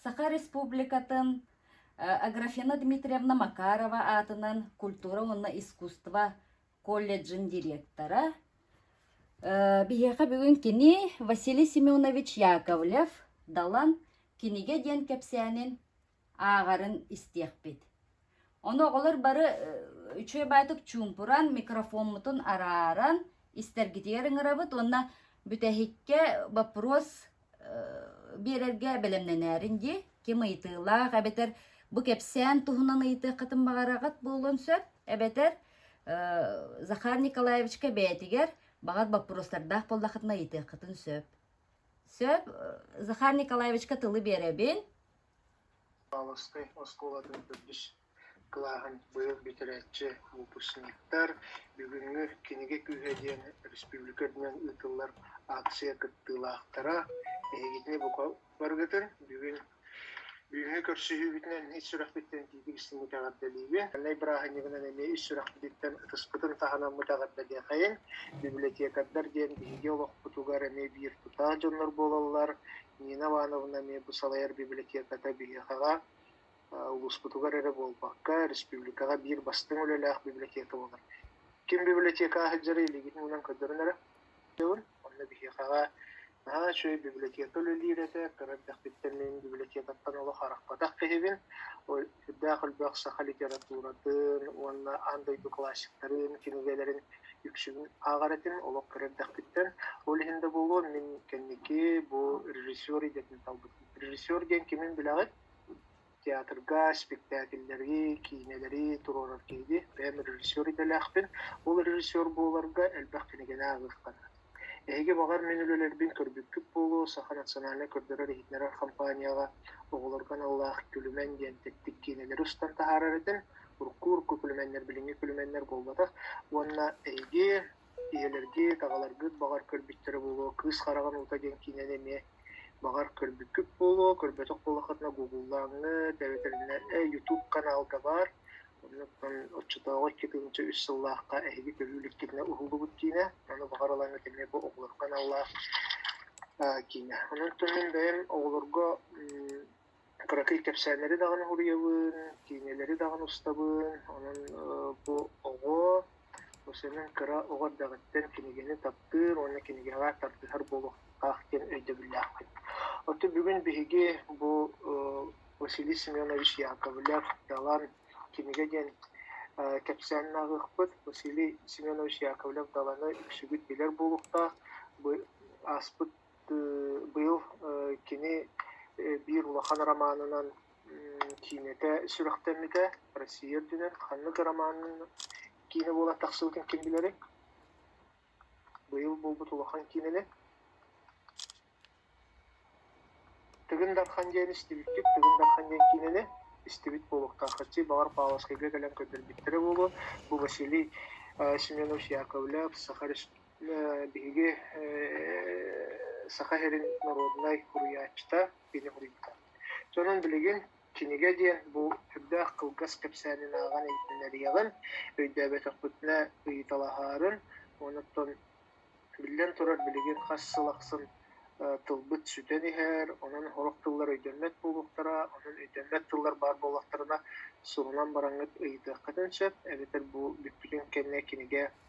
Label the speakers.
Speaker 1: Саха Республикатын Аграфена Дмитриевна Макарова аатынан культура уонна искусство колледжын директора. Биһиэхэ бүгүн кини Василий Семенович Яковлев Далан кинигэ диэн кэпсээнин ааҕарын истиэхпит. Ону оҕолор бары үчүгэй баайдык чуумпуран, микрофоммутун арааран истэргитигэр ыҥырабыт уонна бүтэһиккэ боппуруос биэрэргэ бэлэмнэнээрин дии. Ким ыйытыылаах эбэтэр бу кэпсээн туһунан ыйытыаххытын баҕараҕыт буолуон сөп. Эбэтэр Захар Николаевичка бэйэтигэр баҕар боппуруостардаах буоллаххытына ыйытыаххытын сөп. Сөп. Захар Николаевичка тылы биэрэбин.
Speaker 2: Павловскай оскуолатын төрдүс кылааһын быйыл бүтэрээччи выпускниктар «Бүгүҥҥү кинигэ күүһэ» диэн республика үрдүнэн ыытыллар ааксыйа кыттыылаахтара эһигитини бука барыгытын бүгүн бүгүҥҥү көрсүһүүбүтүнэн ис сүрэхпиттэн итиитик истиҥник эҕэрдэлиибин. Маҥнай бырааһынньыгынан эмиэ ис сүрэхпититтэн ытыспытын таһынаммыт эҕэрдэлиэхэйин. Библиотекардар диэн биһиги олохпутугар эмиэ биир тутаах дьоннор буолаллар. Нина Ивановна эмиэ бу салайар библиотеката биһиэхэҕэ улууспутугар эрэ буолбакка, республикаҕа биир бастыҥ үлэлээх библиотека буолар. Ким библиотека сылдьара илигин уунан көрдөрөн эрэ Онно биһиэхэҕэ наһаа үчүгэй библиотека үлэлиир этэ, кыра эрдэхпиттэн мин библиотекаттан олох арахпатах киһибин, сүрдээх элбэх саха литературатын уонна аан дойду классиктарын кинигэлэрин үксүн ааҕар этим олох кыра эрдэхпиттэн ол иһин да буолуо мин кэнники бу режиссер идэтин талбытым режиссер диэн кимин билэҕит театрга спектакльлэри киинэлэри туруорар киһини бэйэм режиссер идэлээхпин ол режиссер буоларга элбэх кинигэни ааҕыахтара Эһиги, баҕар, мин үлэлэрбин көрбүккүт буолуо, Саха национальнай көрдөрөр-иһитиннэрэр хампаанньаҕа оҕолорго аналлаах Күлүмэн диэн тэттик киинэлэри устан таһаарар этим. Урукку-урукку күлүмэннэр билиҥҥи күлүмэннэр буолбатах. Уонна эһиги, ийэлэргит, аҕаларгыт, баҕар, көрбүттэрэ буолуо, «Кыыс хараҕын уута» диэн киинэни эмиэ Баҕар, көрбүккүт буолуо, көрбөтөх буоллаххытына гугуллааҥҥыт эбэтэр ютуб канал да баар. Оннуктан оччотооҕу икки үс сыллаахха эһиги көрүү иликтиринэ уһуллубут киинэ. Ону баҕар ылаҥҥыт эмиэ бу оҕолор каналлаах киинэ. Онон мин бэйэм оҕолорго кыракый кэпсээннэри даҕаны уруйабын, киинэлэри даҕаны устабын. Онон бу оҕо, бу сонун кыра оҕо эрдэҕиттэн кинигэни таптыыр уонна кинигэҕэ тардыһар буолуохтаах диэн өйдөбүллээхпин. Оттон бүгүн биһиги бу Василий Семенович Яковлев «Далан» кинигэ диэн кэпсээн ааҕыахпыт. Василий Семенович Яковлев «Даланы» үксүгүт билэр буолуохтаах. Бу ааспыт быйыл кини биир улахан романынан киинэтэ сүрэхтэммитэ Россия үрдүнэн ханнык романын киинэ буолан тахсыбытын ким билэрий быйыл буолбут улахан киинэни тыгын дархан диэн истибиккит тыгын дархан диэн киинэни истибит буолуохтааххытий баҕар павловскайга кэлэн көрдөрбүттэрэ буолуо бу василий семенович яковлев саха биһиги Саха сирин норуодунай суруйааччыта, кини суруйбута. Сонун билигин кинигэ диэн бу үрдээх кылгас кэпсээнин ааҕан иһитиннэриэҕин, өйдөөбөтөхпүтүнэ ыйыталаһаарын, онуттан биллэн турар билигин хас сыл ахсын тылбыт сүтэн иһэр, онон сорох тыллар өйдөммөт буолуохтара, онон өйдөммөт тыллар баар буоллахтарына, суһунан бараҥҥыт ыйытыаххытын сөп, эбэтэр бу бүппүтүн кэннэ кинигэ